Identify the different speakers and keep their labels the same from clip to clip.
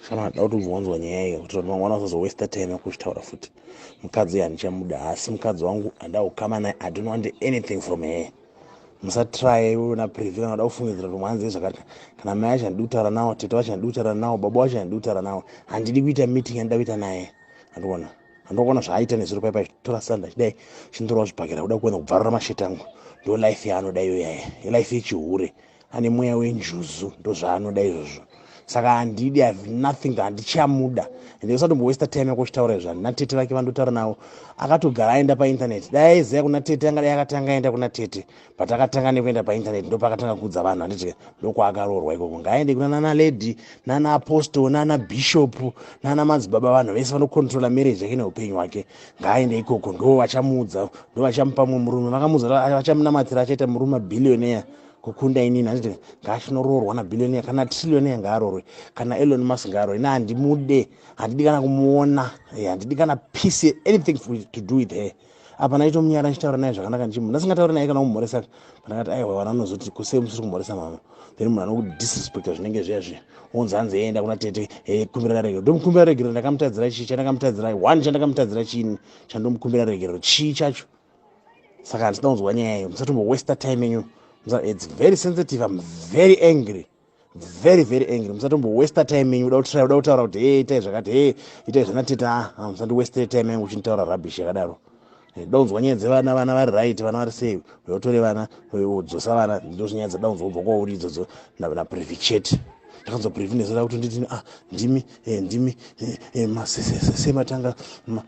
Speaker 1: kana anoda kuti umbonzwa nyaya iyo kuti vanhu vangwana vasazowesta time yakuzvitaura futi mukadzi uyo handichamuda haasi mukadzi wangu handida kukama naye i don't want anything from her musatraye iwe na privi kana uda kufungidzira kuti mwanzi zvakati kana mai acho handidi kutaura nawo tete wacho handidi kutaura nawo baba wacho handidi kutaura nawo handidi kuita meeting yandida kuita naye andiona andokona zvaaita nezviro paipa tora sanda chidai chindorawo zvibhakera kuda kuenda kubvarura masheti angu ndo life yaanoda iyoyaye life yechihure ane mweya wenjuzu ndozvaanoda izvozvo saka handidi have nothing handichamuda ende usatombowesta time yako uchitaura izvo handina tete vake vandotaura navo akatogara aenda paintaneti dai aiziva kuna tete angadai akatanga aenda kuna tete but akatanga nekuenda paintaneti ndopaakatanga kuudza vanhu handiti ndokwaakarorwa ikoko ngaaende kuna nana lady nana apostol nana bishop nana madzibaba vanhu vese vanocontrola marriage yake neupenyu hwake ngaaende ikoko ndo vachamuudza ndo vachamupa mumwe murume vakamuudza vachamunamatira achaita murume billionaire kukunda inini handiti ngaachinoroorwa nabillionaire kana trillionaire ngaaroorwe kana elon musk ngaaroorwe ina handimude handidi kana kumuona eh, handidi kana peace anything to do with her apa ndaitomunyara ndichitaura naye zvakanaka ndichimu ndasingatauri naye kana kumhoresa ndakati aiwa vana vanozoti kusei musiri kumhoresa mama then munhu anokuti disrespecta zvinenge zviya zviya wonzi hanzi eenda kuna tete e kumbira regerero ndomukumbira regerero ndakamutadzira chii chandakamutadzira one chandakamutadzira chiini chandomukumbira regerero chii chacho saka handisina kunzwa nyaya iyo musatombowester time enyu its very sensitive im very angry very very angry musatombo waster time yenyu uda kutira uda kutaura kuti hey itai zvakati hey itai zvana teta ah, ah, musati waster time yangu uchinitaura rubbish yakadaro eh, daunzwa nyaya dzevana vana vari right vana vari sei uyotore vana udzosa vana ndozvinyaya dzadaunzwa ubva kwauri idzodzo naprevichet ndakanzwa previnesera kuti nditini ah ndimi eh, ndimi eh, eh, masese matanga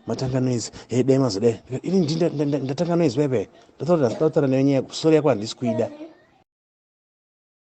Speaker 1: matanga noise eh, dai mazodai ini ndi ndatanga noise bebe ndatauta ndatauta nenyaya sorry yako handisi kuida